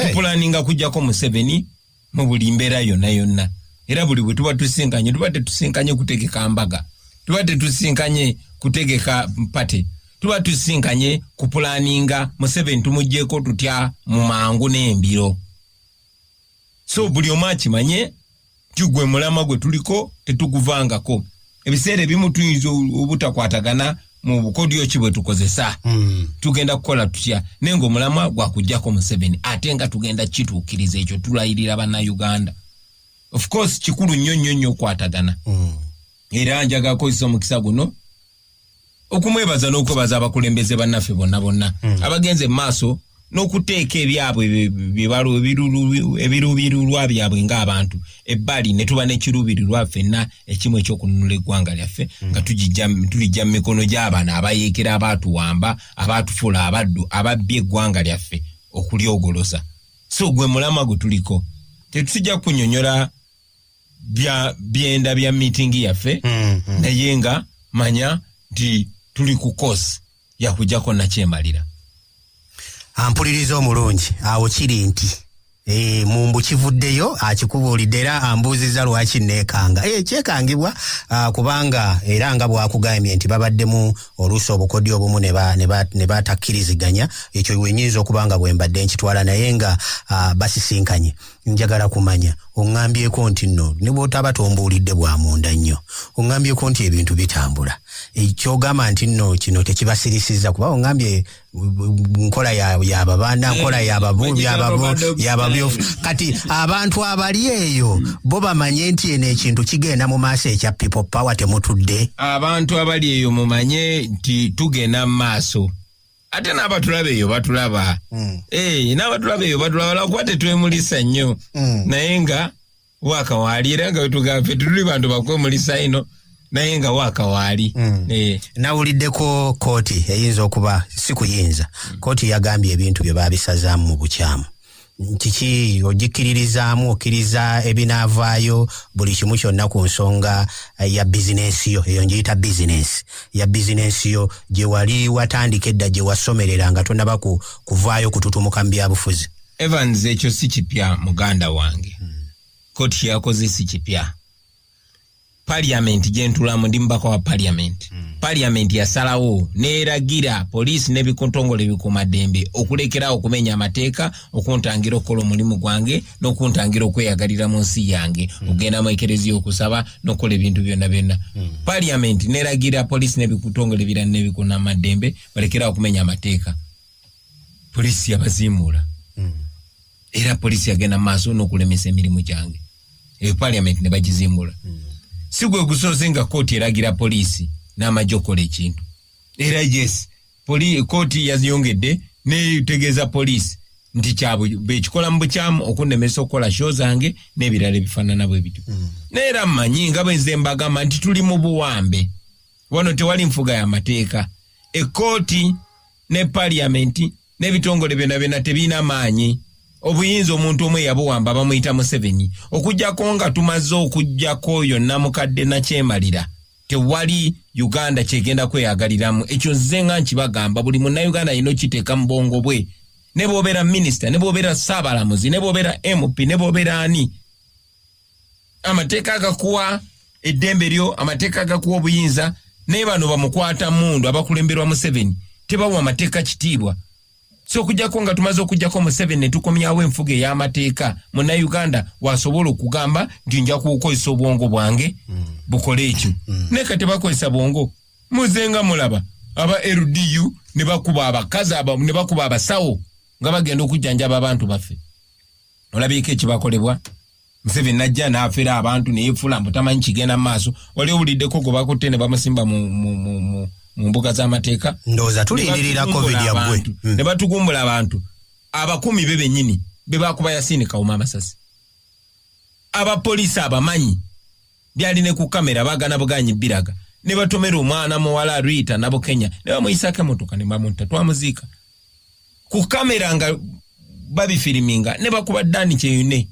tupulaninga kujjako museveni mu buli mbeera yonna yonna era buli bwe tuba tusinkanye tuba tetusinkanye kutegeka mbaga tuba tetusinkanye kutegeka pate tuba tusinkanye kupulaninga museveni tumugyeko tutya mu mangu n'embiro so buli omu akimanye nti gwe mulama gwe tuliko tetuguvangako ebiseera ebimu tuyinza obutakwatagana mu bukodyo ki bwe tukozesa hmm. tugenda kukola tutya naye ngaomulamwa gwakujjako museveni ate nga tugenda kituukiriza ekyo tulayirira bannauganda of course kikulu nnyo nnyo nnyo okwatagana hmm. era njaga kozesa omukisa guno okumwebaza n'okwebaza abakulembeze bannaffe bonna bonna hmm. abagenze mu maaso n'okuteeka ebyabwe ebiruubirirwa byabwe ng'abantu ebbali ne tuba n'ekiruubirirwa ffenna ekimu ekyokununula eggwanga lyaffe hmm. nga tulijja mu mikono gy'abaana abayeekera abaatuwamba abaatufuula abaddu ababbye eggwanga lyaffe okulyogoloza so gwe mulamwa gwe tuliko tetujja kunyonyola bya byenda bya meeting yaffe mm, mm. naye nga manya nti tuli ku course yakujako nakyemalira ampuliriza omulungi awo kiri nti e, mumbu kivuddeyo akikubuulidde era ambuuziza lwaki neekanga e, kyekangibwa a, kubanga era nga bwakugambye nti babaddemu oluusi obukodi obumu ne batakkiriziganya ekyo wenyinza okuba nga bwembadde nkitwala naye nga basisinkanye ba, njagala kumanya oŋŋambyeko nti nno ne bw'otaba tombuulidde bwa munda nnyo oŋŋambyeko nti ebintu bitambula kyogamba nti nno kino tekibasirisiza kuba oŋŋambye nkola yababanda nkola yababyo kati abantu abali eyo bo bamanye nti eno ekintu kigenda mu maaso ekya people power temutudde abantu abali eyo mumanye nti tugenda mu maaso ate n'abatulaba eyo batulaba hmm. eh, n'abatulaba eyo batulaba lwakuba tetwemulisa nnyo hmm. naye nga wakawaali era nga wetugambe fe tetuli bantu bakwemulisa ino naye nga wakawaali hmm. eh. nawuliddeko kooti eyinza okuba si kuyinza kooti yagambye ebintu bye babisazaamu mu bukyamu kiki ogikkiririzaamu okkiriza ebinaavaayo buli kimu kyonna ku nsonga eh, ya bizinensi yo eyo ngiyita bizinensi ya bizinensi yo gye wali watandika edda gye wasomerera nga tonaba ku kuvaayo kututumuka mu byabufuzi evans ekyo si kipya muganda wange hmm. koti yakoze si kipya parliament gyentulamu ndi mubaka wa parliament mm. parliament yasalawo neragira poliisi nebikuntongole ebikuuma ddembe okulekerawo okumenya amateeka okuntangira okukola omulimu gwange nokuntangira okweyagalira mu nsi yange mm. okugenda mu ekereziya okusaba nokukola ebintu byonna byonna mm. parliament neragira poliisi nebikuntongole ebira nebikunama ddembe balekerawo okumenya amateeka poliisi yabazimuula mm. era poliisi yagenda mu maaso nokulemesa emirimu gyange eyo parliament ne bagizimbula mm. si gwe gusoose nga kooti eragira poliisi n'amagye okukola ekintu era yes kooti yaziyongedde netegeeza poliisi nti kyabekikola mu bukyamu okunnemesa okukola sho zange n'ebirala ebifaanana bwe bityo mm. naye era mmanyi nga bwenze mbagamba nti tuli mu buwambe wano tewali nfuga ya mateeka ekkooti ne paliyamenti n'ebitongole byona byona tebirina maanyi obuyinza omuntu omu eyabuwamba bamuyita museveni okujjako nga tumaze okujjako oyo namukadde nakyemalira tewali uganda kyegenda kweyagaliramu ekyo nze nga nkibagamba buli munauganda yina okiteeka mu bwongo bwe ne bwobeera minisita ne bwobeera saabalamuzi ne bwobeera mp ne bwobeera ani amateeka agakuwa eddembe lyo amateeka agakuwa obuyinza naye bano bamukwata mundu abakulemberwa museveni tebawa amateeka kitiibwa so okujjako nga tumaze okujjako museveni netukomyawo enfuga ey'amateeka munauganda wasobola okugamba nti nja kukozesa obwongo bwange mm. bukole ekyo mm. naye ka tebakozesa bwongo muzenga mulaba aba ldu nebakuba abakazi nebakuba abasawo nga bagenda okujjanjaba abantu baffe nolabiika ekibakolebwa museven najja nafera abantu neyefula mbu tamanyi kigenda mu maaso wali owuliddeko gwe bakutte ne bamusimba mu mbuga z'amateeka ndowooza tulindirira covid yaggwe hmm. ne batugumbula abantu abakumi be benyini bebakuba yasini kawuma amasasi abapoliisi abamanyi byali ne ku kamera bagana buganyi biraga ne batomera omwana muwala Rita nabo Kenya ne bamuyisako emotoka ne bamunta twamuziika ku kamera nga babifiriminga ne bakuba Dani Kyeyune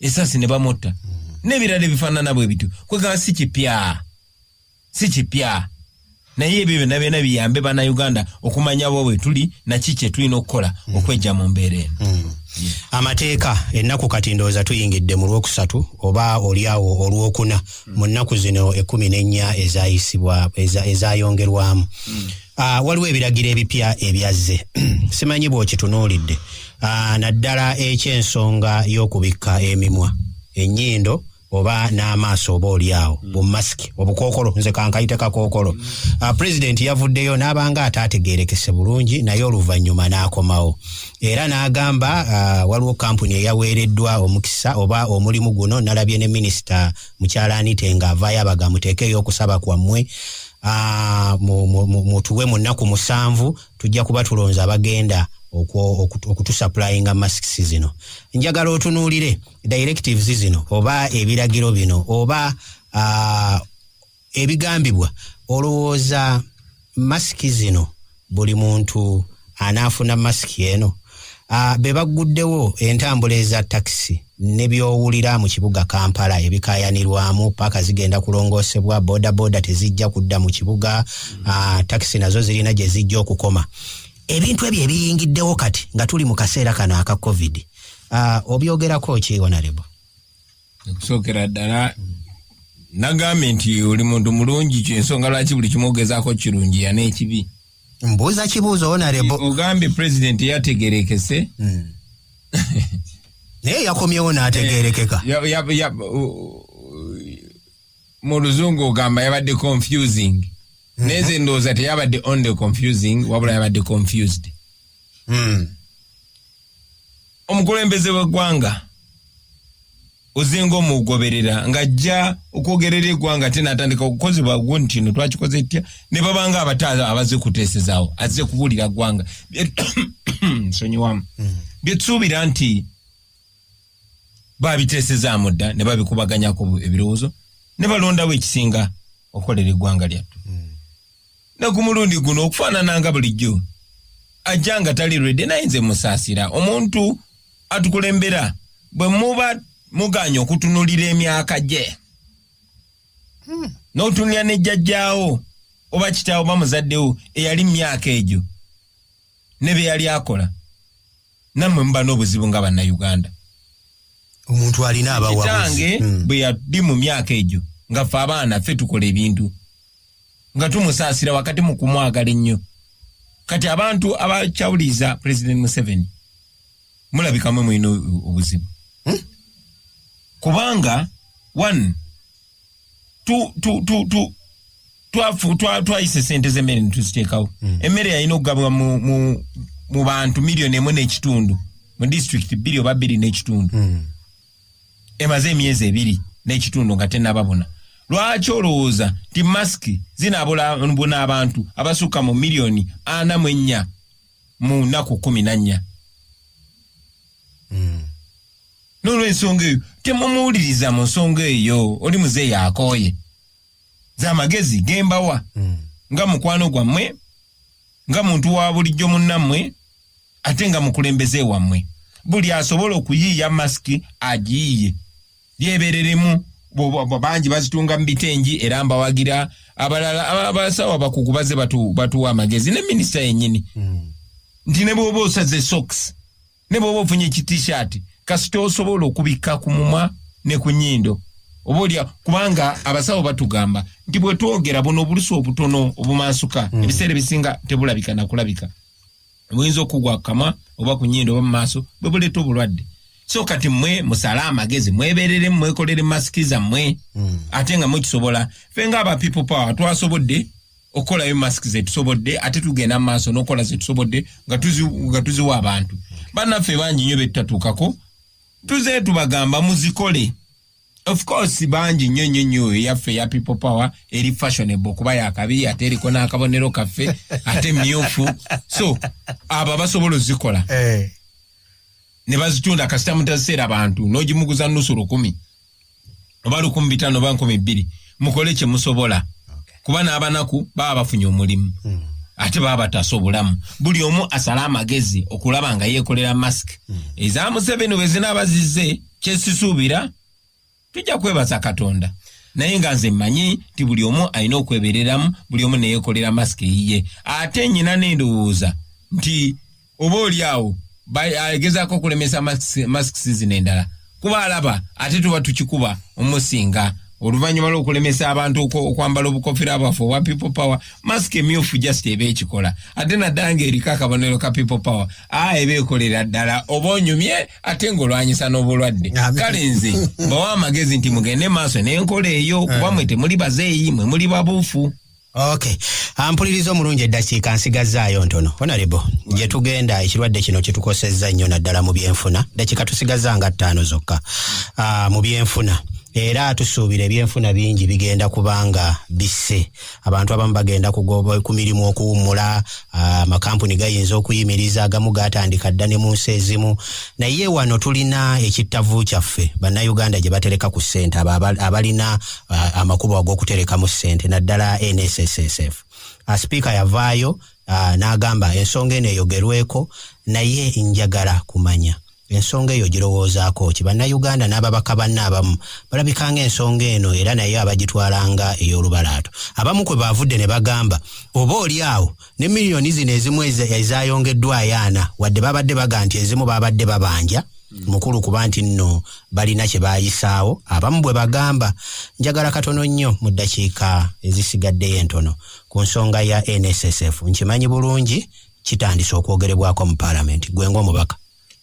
esasi ne bamutta mm. n'ebirala ebifaanana bwe bityo kwegamba si kipya si kipya naye ebyo byonna byona biyambe bana uganda okumanya bo wetuli naki kyetulina okukola mm. okwejja mu mbeera eno mm. amateeka ennaku kati ndowooza tuyingidde mu lwokusatu oba olyawo olwokuna mm. mu nnaku zino ekumi n'ennya ezayisibwa ezayongerwamu ah, waliwo ebiragiro ebipya ebyazze simanyi bwokitunuulidde ah, naddala ekyensonga y'okubikka emimwa ennyindo oba n'amaaso oba olyawo mm. bumasiki obukookolo nze kankayite kakookolo mm. ah, pulezidenti yavuddeyo n'abanga ataategeerekese bulungi naye oluvannyuma n'akomawo era n'agamba ah, waliwo kampuni eyaweereddwa omukisa oba omulimu guno nalabye ne minisita mukyalaanite nga avaayo abaga muteekeeyo okusaba kwammwe ah, mutuwe mu nnaku musanvu tujja kuba tulonze abagenda okutusapulainga masks zino njagala otunuulire directives zino oba ebiragiro bino oba uh, ebigambibwa olowooza masiki zino buli muntu anaafuna masiki eno uh, be bagguddewo entambula eza takisi ne byowulira mu kibuga kampala ebikayanirwamu paaka zigenda kulongoosebwa bodaboda tezijja kudda mu kibuga uh, takisi nazo zirina gye zijja okukoma ebintu ebyo ebiyingiddewo kati nga tuli mu kaseera kano aka covid ah, obyogerako ki onarebo okusookera ddala nagambye nti oli muntu mulungi kyensonga lwaki buli kimu ogezaako kirungi yana ekibi mbuuza kibuuzo onarebo ogambye pulezidenti eyategerekese hmm. naye yakomyewo n'ategerekeka eh, mu luzungu ogamba yabadde confusing mhm. neze ndowooza teyabadde only confusing wabula yabadde confused mm. omukulembeze w'eggwanga ozinga omugoberera ng'ajja okwogerera eggwanga ate n'atandika okukozebwa gwo nti no twakikoze etya ne babanga abataala abaze kuteesezaawo azze kubuulira ggwanga nsonyiwamu hmm. byetusuubira nti babiteesezaamu dda ne babikubaganyako ebirowoozo ne balondawo ekisinga okukolera eggwanga lyattu hmm. ne ku mulundi guno okufaanana nga bulijjo ajja nga tali lwedde naye nze musaasira omuntu atukulembera bwe muba muganya okutunulira emyaka gye hmm. n'otunulira ne jjajjaawo oba kitaawo bamuzaddewo eyali mu myaka egyo ne bye yali akola namwe muba n'obuzibu nga bannayuganda omuntu alina abawabuzi hmm. bwe yaddi mu myaka egyo nga ffe abaana ffe tukola ebintu nga tumusaasira wakati mu kumwagala ennyo kati abantu abakyawuliriza president museveni mulabikamwe mulina obuzibu hmm? kubanga one twayisa esente z'emmere ne tuziteekawo hmm. emmere yalina okugabwa mu bantu miliyoni emu n'ekitundu mu disitulikiti bbiri oba bbiri n'ekitundu hmm. emaze emyezi ebiri n'ekitundu nga tenababona lwaki olowooza nti masiki zinaabula abantu abasukka mu miliyoni ana mu ennya mu nnaku kumi na nnya hmm. n'olwensonga eyo temumuwuliriza mu nsonga eyo oli muzeeyi akooye z'amagezi gembawa hmm. nga mukwano gwammwe nga muntu wa bulijjo munnammwe ate nga mukulembeze wammwe buli asobola okuyiiya masiki agiyiye lyebereremu bangi bazitunga mu bitengi era mbawagira abalala abasawo abakugu baze batuwa amagezi ne minisita yenyini hmm. nti ne bwoba osaze soks ne bwoba ofunye ekitishaati kasita osobola okubikka ku mumwa ne ku nyindo oba olya kubanga abasawo batugamba nti bwetwogera buno obulusi obutono obumansuka hmm. ebiseera ebisinga tebulabika nakulabika buyinza okugwa ku kamwa oba ku nyindo oba mu maaso bwe buleeta obulwadde so kati mwe musale amagezi mwebereremu mwekolere masiki zammwe hmm. ate nga mukisobola fe nga aba people power twasobodde okukolayo masiki zetusobodde ate tugenda mu maaso n'okukola zetusobodde nga tuziwa abantu bannaffe bangi nyo betutatuukako tuze tubagamba muzikole of course bangi nnyo nnyo nnyo eyaffe eya people power eri fashionable kuba yakabi ate eriko n'akabonero kaffe ate myufu so abo abasobola ozikola eh. ne bazitunda kasita mutaziseera bantu n'ogimuguza nusu lukumi oba lukumi bitano oba nkumi bbiri mukole kyemusobola kuba n'abanaku baba bafunye omulimu hmm. ate baba batasa obulamu buli omu asale amagezi okulaba nga yeekolera masiki hmm. eza museveni bwe zinaaba zizze kyesisuubira tujja kwebaza katonda naye nga nze mmanyi nti buli omu alina okwebereramu buli omu neyeekolera masiki eyiye ate nyina n'endowooza nti oba oli awo agezaako okulemesa masks zino endala kuba alaba ate tuba tukikuba omusinga oluvannyuma lw'okulemesa abantu okwambala obukofira bwaffe obwa people power mask emyufu just eba ekikola ate naddala ng'eriko akabonero ka people power a eba ekolera ddala oba onyumye ate ng'olwanyisa n'obulwadde kale nze bawa amagezi nti mugende maaso n'enkola eyo kuba mwe temuli bazeeyi mwe muli babuufu ok ampuliriza omulungi eddakiika nsigazzaayo ntono honarebo gye tugenda ekirwadde kino kyetukosezza nnyo naddala mu byenfuna ddakiika tusigazza nga ttaano zokka ah, mu byenfuna era tusuubira ebyenfuna bingi bigenda kubanga bisse abantu abamu bagenda kugoba ku mirimu okuwummula ah, amakampuni gayinza okuyimiriza agamu gatandika dda ne mu nsi ezimu naye wano tulina ekittavu kyaffe bannayuganda gye batereka ku ssente abalina uh, amakubo ag'okuterekamu ssente naddala nssf uh, sipiika yavaayo uh, n'agamba ensonga eno eyogerweko naye njagala kumanya ensonga eyo girowoozaako ki bannayuganda n'ababaka banne abamu balabikanga ensonga eno era naye abagitwalanga ey'olubalaato abamu kwe baavudde ne bagamba oba oli awo ne miliyoni zino ezimu ezayongeddwa ayaana wadde babadde baga nti ezimu babadde babanja hmm. mukulu kuba nti nno balina kye bayisaawo abamu bwe bagamba njagala katono nnyo mu ddakiika ezisigaddeyo entono ku nsonga ya nssf nkimanyi bulungi kitandise okwogerebwako mu paalamenti gwe ngaomubaka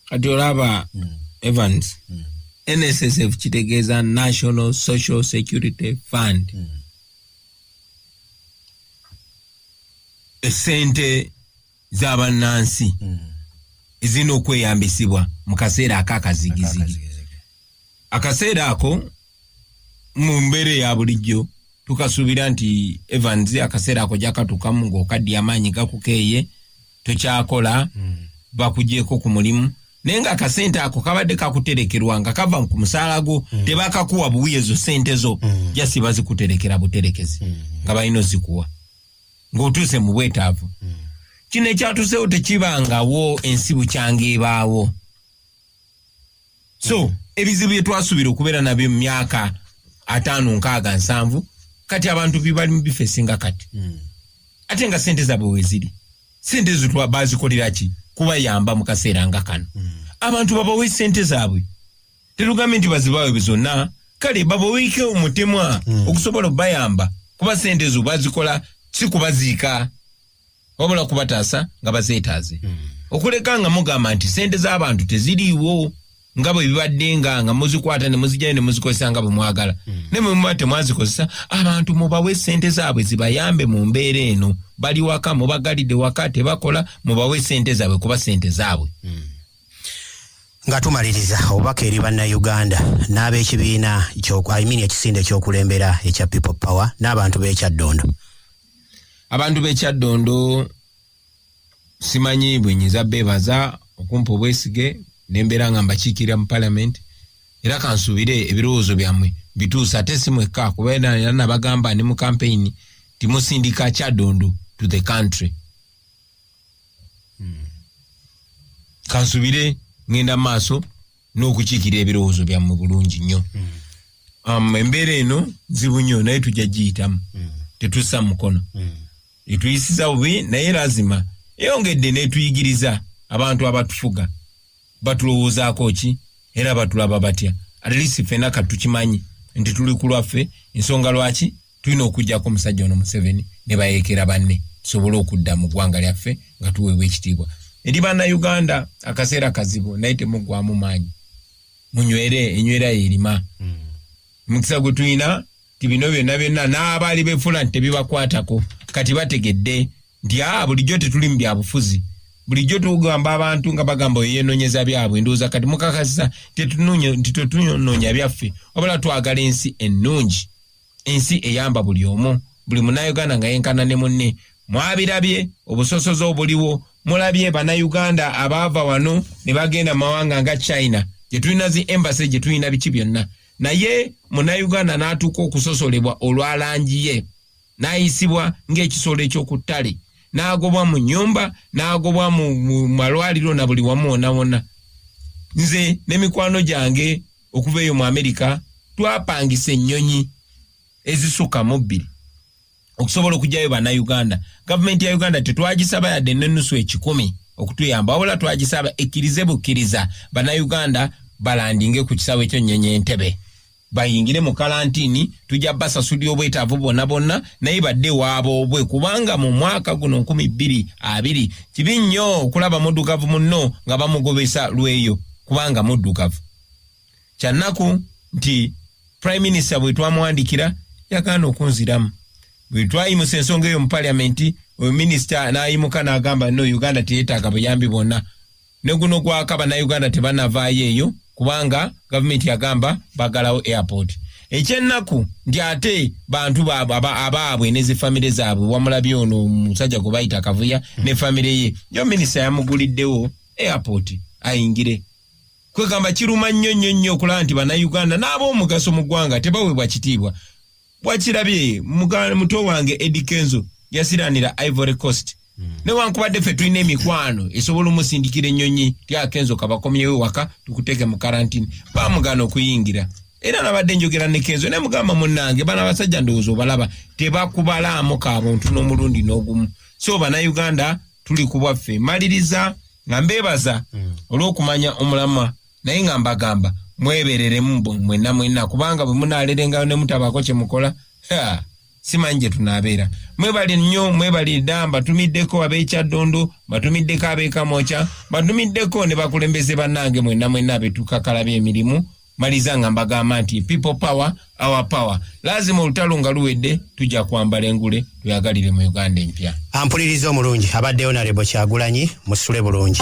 kati olaba hmm. evans hmm. nssf kitegeeza national social security fund mm. esente za bannansi mm. ezirina okweyambisibwa mu kaseera akakazigizigi akaseera ako mu mbeera eya bulijjo tukasuubira nti evans akaseera ako jakatukamu ngaokaddi amaanyi gakukeeye tokyakola hmm. bakujeeko ku mulimu naye nga akasente ako kabadde kakuterekerwa nga kava ku musaala gwo hmm. tebakakuwa buwi ezo sente zo hmm. jasi bazikuterekera buterekezi nga balina ozikuwa ng'otuuse mu bwetaavu kino ekyatuseewo tekibangawo ensi bukyanga ebaawo so mm. ebizibu byetwasubira okubeera nabyo mumyaka ataano nkaaga nsanvu kati abantu bibali mubifesinga kati mm. ate nga sente zabwe weziri sente ezo bazikoleraki kubayamba mukaseera nga kano mm. abantu babawe sente zabwe terugambe nti bazibawe zonna kale babaweike omutemwa mm. okusobola okubayamba kuba sente ezo bazikola si kubaziika wabula kubataasa nga bazeetaaze hmm. okuleka nga mugamba nti sente z'abantu teziriiwo nga bwe bibadde nga nga muzikwata ne muzijayo ne muzikozesa nga bwe mwagala hmm. naye mwe muba temwazikozesa abantu mubawe sente zaabwe zibayambe mu mbeera eno bali waka mubagalidde waka tebakola mubawe sente zaabwe kuba sente zaabwe hmm. nga tumaliriza obubaka eri bannayuganda n'ab'ekibiina ekisinde ekyokulembera ekya people power n'abantu b'ekyaddondo abantu b'ekyaddondo simanyi bwe nyinza beebaza okumpa obwesige nembeera nga mbakiikirira mu palamenti era kansuubire ebirowoozo byammwe bituusa ate si mwekka kuba era nabagamba ne mu kampeyini timusindika kyaddondo to the country hmm. kansuubire ŋŋenda mu maaso n'okukiikirira ebirowoozo byammwe bulungi nnyo mm. um, embeera eno nzibu nnyo naye tujja giyitamu mm. tetussa mukono mm. etuyisiza bubi naye lazima eyongedde n'etuyigiriza abantu abatufuga batulowoozaako ki era batulaba batya atlisi ffena katukimanyi nti tuli ku lwaffe ensonga lwaki tulina okujjako omusajja ono museveni ne bayeekera banne tusobole okudda mu ggwanga lyaffe nga tuweebwa ekitiibwa eri bannayuganda akaseera kazibu naye temuggwamu maanyi munywere enywera yerima hmm. omukisa gwe tulina ti bino byonna byonna n'abaali befuula nti tebibakwatako kati bategedde nti a ah, bulijjo tetuli mu byabufuzi bulijjo tugamba abantu nga bagamba oyo yenonyeza byabwe ndowooza kati mukakasiza nti tetunoonya byaffe wabula twagala ensi ennungi Ensi eyamba buli omu, buli munauganda nga yenkana ne munne. Mwabirabye obusosoze obuliwo, mulabye banauganda abaava wano ne bagenda mawanga nga China gyetulina zi embassy gyetulina biki byonna, naye munauganda natuuka okusosolebwa olwa langi ye, nayisibwa ng'ekisolo eky'oku ttale, nagobwa mu nyumba, nagobwa mu malwaliro na buli wamu wonna wonna. Nze ne mikwano gyange okuva eyo mu amerika twapangisa ennyonyi ezisukka mu bbiri okusobola okugyayo bannayuganda gavumenti ya uganda tetwagisaba yadde nenusu ekikumi okutuyamba wabula twagisaba ekkirize bukkiriza bannayuganda balandinge ku kisaawe ekyennyonyi entebe bayingire mu kalantini tujja basasulira obwetaavu bwonna bwonna naye badde waaboobwe kubanga mu mwaka guno nkumi bbiri abiri kibi nnyo okulaba muddugavu munno nga bamugobesa lweyo kubanga muddugavu kyannaku nti prime minister bwe twamwandikira yagaana okunziramu bwe twayimusa ensonga eyo mu paliamenti oyo minisita n'ayimuka n'agamba no uganda teyetaaga buyambi bwonna ne guno gwaka bannayuganda tebanavaayo eyo kubanga gavumenti yagamba bagalawo airport ekyennaku nti ate bantu baabwe abaabwe ne zifamire zaabwe wamulabye ono omusajja gwe bayita kavuya ne famire ye yo minisita yamuguliddewo airport ayingire kwegamba kiruma nnyo nnyo nnyo okulaba nti bannayuganda n'ab'omugaso mu ggwanga tebaweebwa kitiibwa wakirabye muto wange edi kenzo yasiranira ivory coast hmm. newankubadde ffe tulina emikwano esobola omusindikira ennyonyi tyakenzo kabakomyewo ewaka tukuteeke mu karantini bamugana okuyingira era nabadde njogera ne kenzo naye mugamba munnange bana abasajja ndowooza obalaba tebakubalaamu kabuntu n'omulundi n'ogumu so banauganda tuli ku bwaffe maliriza nga mbeebaza mm. olw'okumanya omulamwa naye nga mbagamba mwebereremu mwenna mwenna kubanga bwe munaalerengayo ne mutabaako kye mukola simanyi gye tunaabeera mwebali nnyo mwebali dda mbatumiddeko ab'ekyaddondo mbatumiddeko ab'ekamokya mbatumiddeko ne bakulembeze bannange mwenna mwenna abetukakalabya emirimu maliza nga mbagamba nti people power our power lazima olutalo nga luwedde tujja kwambala engule tuyagalire mu uganda empya ampuliriza omulungi abadde onarebo kyagulanyi musule bulungi